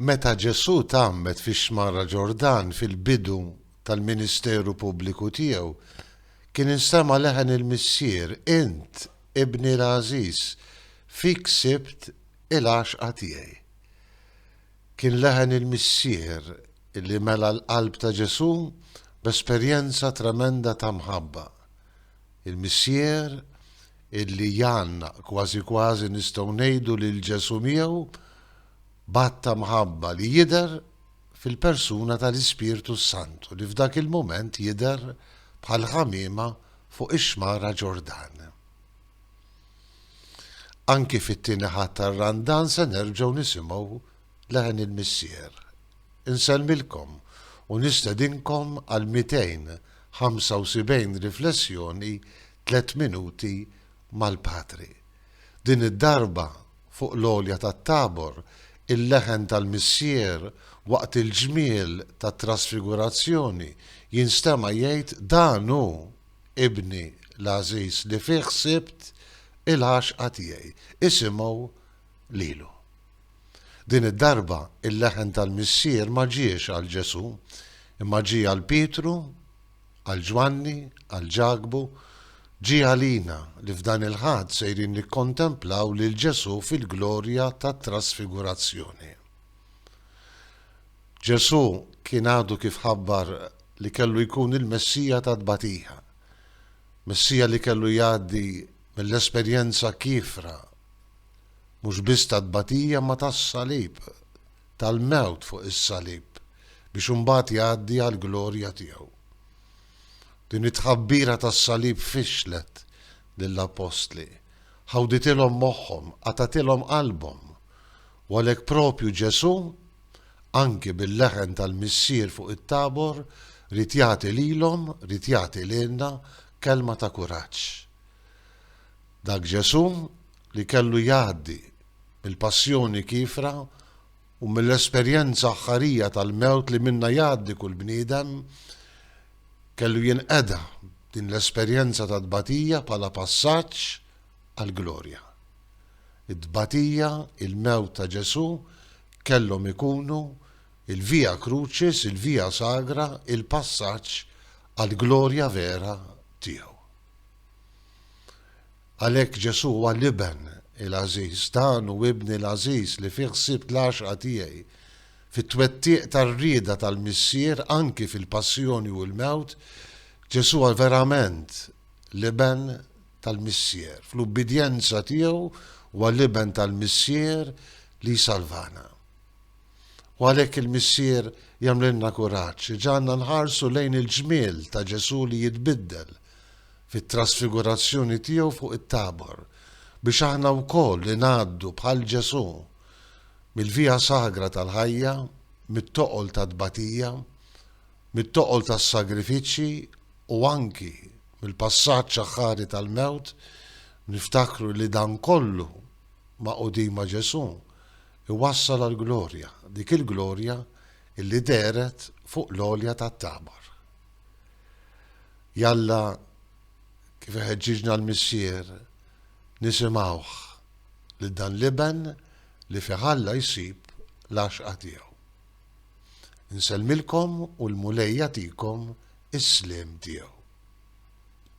Meta Ġesù tgħammed fix-Xmara Ġordan fil-bidu tal-ministeru pubbliku tiegħu, kien insema' leħen il-Missier, Int, Ibni l-għażiż, fik sibt il-għaxqa tiegħi. Kien leħen il-Missier li mela l-qalb ta' Ġesù b'esperjenza tremenda ta' mħabba. Il-Missier illi jgħannaq, kważi kważi nistgħu ngħidu li l-Ġesù miegħu b'għadd ta' mħabba li jidher fil-persuna tal-Ispirtu s-Santu li f'dak il-mument jidher bħal ħamiema fuq ix-xmara Ġordan. Anki fit-tieni ħadd tar-Randan se nerġgħu nisimgħu leħen il-Missier. Insellmilkom u nistedinkom għal 275 riflessjoni Tliet Minuti mal-Patri. Din id-darba, fuq l-għolja tat-Tabor, il-leħen tal-Missier waqt il-ġmiel tat-Trasfigurazzjoni jinstema' jgħid Dan hu Ibni l-għażiż li fih ħsibt il-għaxqa tiegħi. Isimgħu lilu. Din id-darba il-leħen tal-Missier ma ġiex għal Ġesù, imma ġie għal Pietru, Għal Ġwanni, għal Ġakbu, ġie għalina li f'dan il-Ħadd sejrin nikkontemplaw lil Ġesù fil-glorja tat-Trasfigurazzjoni. Ġesù kien għadu kif ħabbar li kellu jkun il-Messija tat-tbatija, Messija li kellu jgħaddi mill-esperjenza kiefra mhux biss tat-tbatija imma tas-salib, tal-mewt fuq is-salib biex imbagħad jgħaddi għall-glorja tiegħu. Din it-tħabbira tas-salib fixxlet lill-appostli, ħawditilhom moħħhom, qatgħatilhom qalbhom. U għalhekk proprju Ġesù, anki bil-leħen tal-Missier fuq it-Tabor, rid jagħti lilhom, rid jagħti lilna kelma ta' kuraġġ. Dak Ġesù li kellu jgħaddi mill-passjoni kiefra u mill-esperjenza aħħarija tal-mewt li minnha jgħaddi kull bniedem, kellu jinqeda b'din l-esperjenza ta' tbatija bħala passaġġ għall-glorja. It-tbatija, il-mewt ta' Ġesù kellhom ikunu il-via crucis, il-via sagra, il-passaġġ għall-glorja vera tiegħu. Għalhekk Ġesù huwa l-Iben il-għażiż, dan hu Ibni l-għażiż li fih sibt l-għaxqa tiegħi. Fit-twettiq tar-rieda tal-Missier, anki fil-passjoni u l-mewt, Ġesù huwa verament l-Iben tal-Missier. Fl-ubbidjenza tiegħu huwa l-Iben tal-Missier li jsalvana. U għalhekk il-Missier jagħmlilna kuraġġ, iġagħalna nħarsu lejn il-ġmiel ta' Ġesù li jitbiddel, fit-trasfigurazzjoni tiegħu fuq it-Tabor, biex aħna wkoll ingħaddu bħal Ġesù mill-via sagra tal-ħajja, mit-toqol tat-tbatija, mit-toqol tas-sagrifiċċji u anki mill-passaġġ aħħari tal-mewt, niftakru li dan kollu magħqudin ma' Ġesù iwassal għall-glorja, dik il-glorja illi dehret fuq l-għolja tat-Tabor. Jalla kif iħeġġiġna l-Missier nisimgħuh lil dan l-Iben li fih Alla jsib l-għaxqa tiegħu. Insellmilkom u l-Mulej jagħtikom is-sliem tiegħu.